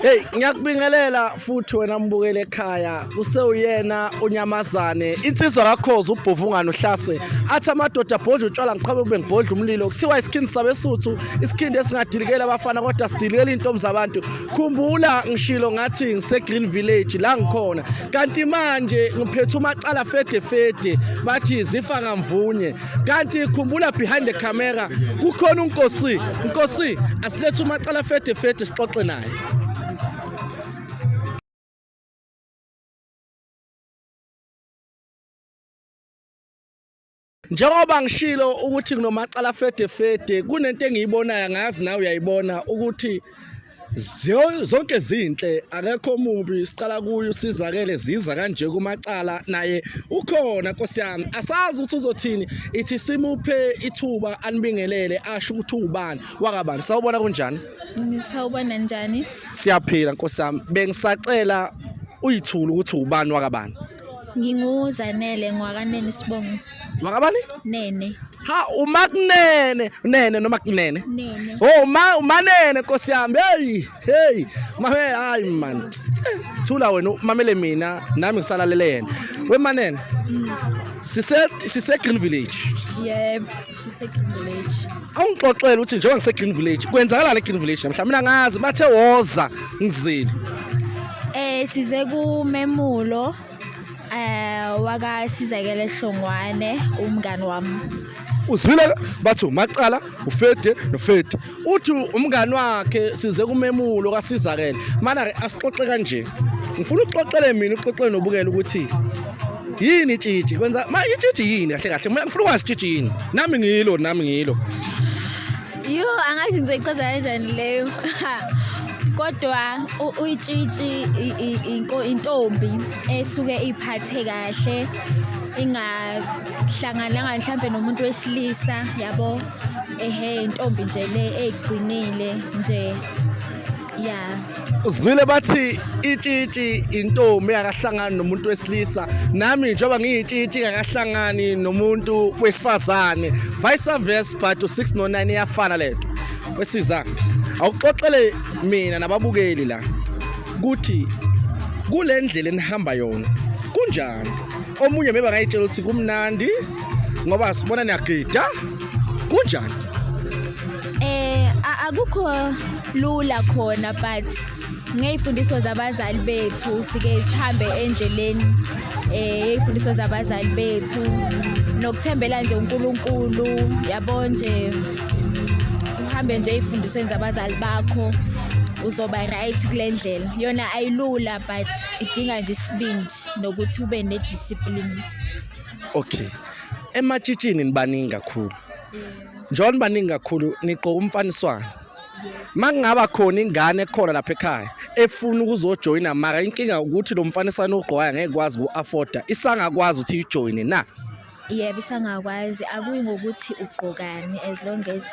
Hey ngiyakubingelela futhi wena mbukele ekhaya kusewuyena unyamazane insizwa kakhoza ubhovungana uhlase athi amadoda abhodla utshwala ngiqhabe kube ngibhodla umlilo kuthiwa isikhindi sabesuthu isikhindi esingadilikela abafana kodwa sidilikela intombi zabantu khumbula ngishilo ngathi ngise Green Village la ngikhona kanti manje ngiphethe umacala fede fede bathi zifa ngamvunye kanti khumbula behind the camera kukhona unkosi nkosi asilethe umacala fede fede sixoxe naye njengoba ngishilo ukuthi kunomacala fede fede kunento engiyibonayo ngazi nawe uyayibona ukuthi zonke zinhle akekho mubi siqala kuyo usizakele ziza kanje kumacala naye ukhona nkosi yami asazi ukuthi uzothini ithi simuphe ithuba anibingelele asho ukuthi ubani wakabani sawubona kunjani ngisawubona njani siyaphila nkosi yami bengisacela uyithula ukuthi ubani wakabani nginguzanele ngwakanene sibongo wakabani nene ha umakunene nene noma kunene nene oh ma umanene nkosi yami hey hey mame hayi man thula wena mamele mina nami ngisalalele yena wemanene mm. sise sise green village yebo sisegreen village awungixoxele ukuthi njengoba ngisegreen village kwenzakalani egreen village namhla mina ngazi bathe woza ngizile eh size kumemulo eh waka sizakele hlongwane umngani wami uzwile bathu macala ufede nofede uthi umngani wakhe size kumemulo kasizakele mana ke asixoxe kanje ngifuna ukuxoxele mina uxoxele nobukela ukuthi yini itshitshi kwenza ma itshitshi yini kahle kahle mina ngifuna ukwazi itshitshi yini nami ngilo nami ngilo yo angazi ngizoyichaza kanjani leyo kodwa uyitshitshi intombi esuke iphathe kahle ingahlangananga mhlambe nomuntu wesilisa yabo ehe intombi nje le eyigcinile nje ya uzwile bathi itshitshi intombi akahlangani nomuntu wesilisa nami njengoba ngiyitshitshi akahlangani nomuntu wesifazane vice versa but u609 iyafana lento wesiza awuxoxele mina nababukeli la ukuthi kulendlela enihamba yona kunjani omunye meba ngayitshela ukuthi kumnandi ngoba sibona niyagida kunjani eh akukho lula khona but ngey'fundiso zabazali bethu sike sihambe endleleni um yey'fundiso zabazali bethu nokuthembela nje unkulunkulu yabo nje uhambe nje ey'fundisweni zabazali bakho uzoba right kule ndlela yona ayilula but idinga nje isibindi nokuthi ube nediscipline okay ematshitshini nibaningi kakhulu njengoba nibaningi kakhulu nigqoka umfaniswano makungaba khona ingane ekhona lapha ekhaya efuna ukuzojoyina mara inkinga ukuthi lo mfaniswano ogqokayo ngeke kwazi ku-afforda isangakwazi ukuthi ijoyine na yebo isangakwazi akuyi ngokuthi ugqokani as long as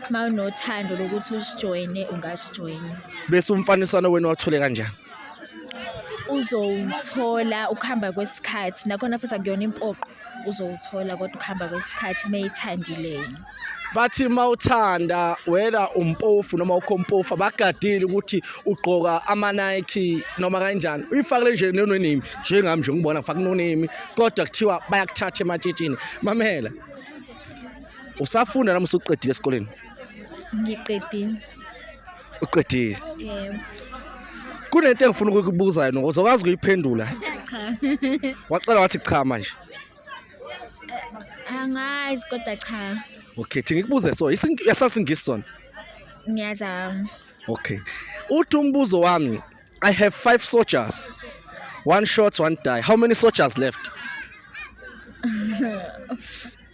uma unothando lokuthi usijoyine ungasijoyina bese umfaniswano wenu wathule kanjani uzowuthola ukuhamba kwesikhathi nakhona futhi akuyona impoqo uzowuthola kodwa ukuhamba kwesikhathi meyithandileyo bathi mawuthanda wena umpofu noma ukhompofu abagadile ukuthi ugqoka ama Nike noma kanjani uyifakile nje no name njengami nje ngibona ngifaka no name kodwa kuthiwa bayakuthatha ematshitshini mamela usafunda noma usuqedile esikoleni ngiqedile uqedile Yebo. kunento engifuna ukukubuza yona uzokwazi ukuyiphendula Cha. waqala wathi cha manje Angazi kodwa cha. okay thi ngikubuze so ising- yasasingisi sona Ngiyazama. okay uthi umbuzo wami i have five soldiers one shot one die how many soldiers left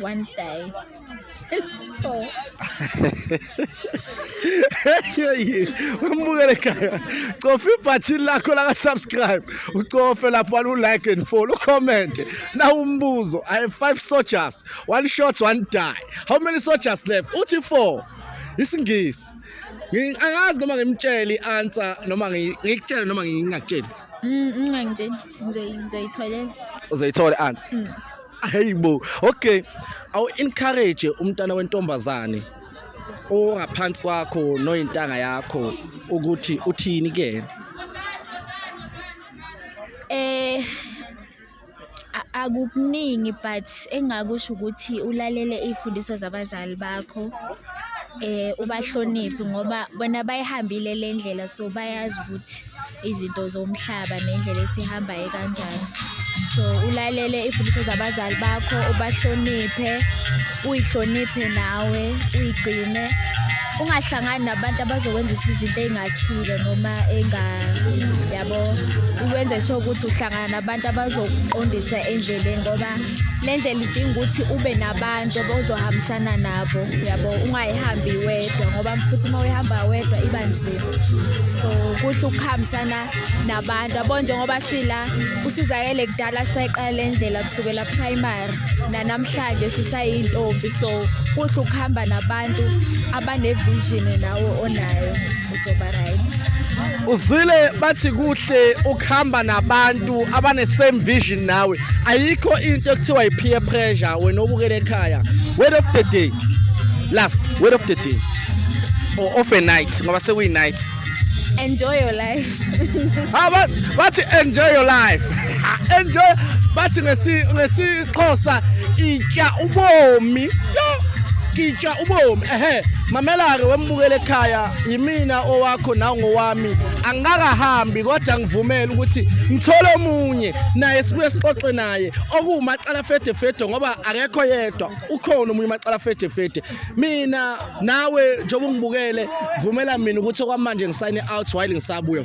One time. Cellphone. umbukele khaya cofa ibhathini lakho laka-subscribe ucofe lapho alu-like and follow ucommente nawumbuzo i have five soldiers one shot one die how many soldiers left uthi four isingisi angazi noma ngimtshele i-answer noma ngikutshele noma ngingakutsheli mm, mm, ngizoyitholela uzoyithola anti hmm. hey bo okay awu encourage umntana wentombazane ongaphansi kwakho noyintanga yakho ukuthi uthini ke eh akukuningi but engakusho ukuthi ulalele izifundiso zabazali bakho eh ubahloniphi ngoba bona bayihambile lendlela so bayazi ukuthi izinto zomhlaba nendlela esihambayo kanjani so ulalele imfundiso zabazali bakho ubahloniphe uyihloniphe nawe uyigcine ungahlangani nabantu abazokwenzisa izinto ey'ngasile noma yabo uwenze sho ukuthi uhlangana nabantu abazokuqondisa endleleni ngoba le ndlela idinga ukuthi ube nabantu ozohambisana nabo yabo ungayihambi wedwa ngoba futhi uma uyihamba wedwa iba nzima so kuhle ukuhambisana nabantu yabo njengoba sila usizakele kudala sisayiqala indlela kusukela primary nanamhlanje sisayintombi so kuhle ukuhamba nabantu abanevision nawe onayo uzoba right uzwile bathi kuhle ukuhamba nabantu abane same vision nawe ayikho into ekuthiwa yi peer pressure wena obukele ekhaya word of the day last word of the day for off a night ngoba sekuyi night enjoy your life ah but but enjoy your life ah, enjoy but ngesi ngesixhosa itya ubomi yo kitya ubomi ehe mamela-ke wembukele ekhaya yimina owakho nawo ngowami angikakahambi kodwa ngivumele ukuthi ngithole omunye naye sibuye sixoxe naye okuwumacala fedefede ngoba akekho yedwa ukhona omunye umacala fedefede mina nawe njengoba ungibukele vumela mina ukuthi okwamanje ngisayine out while ngisabuya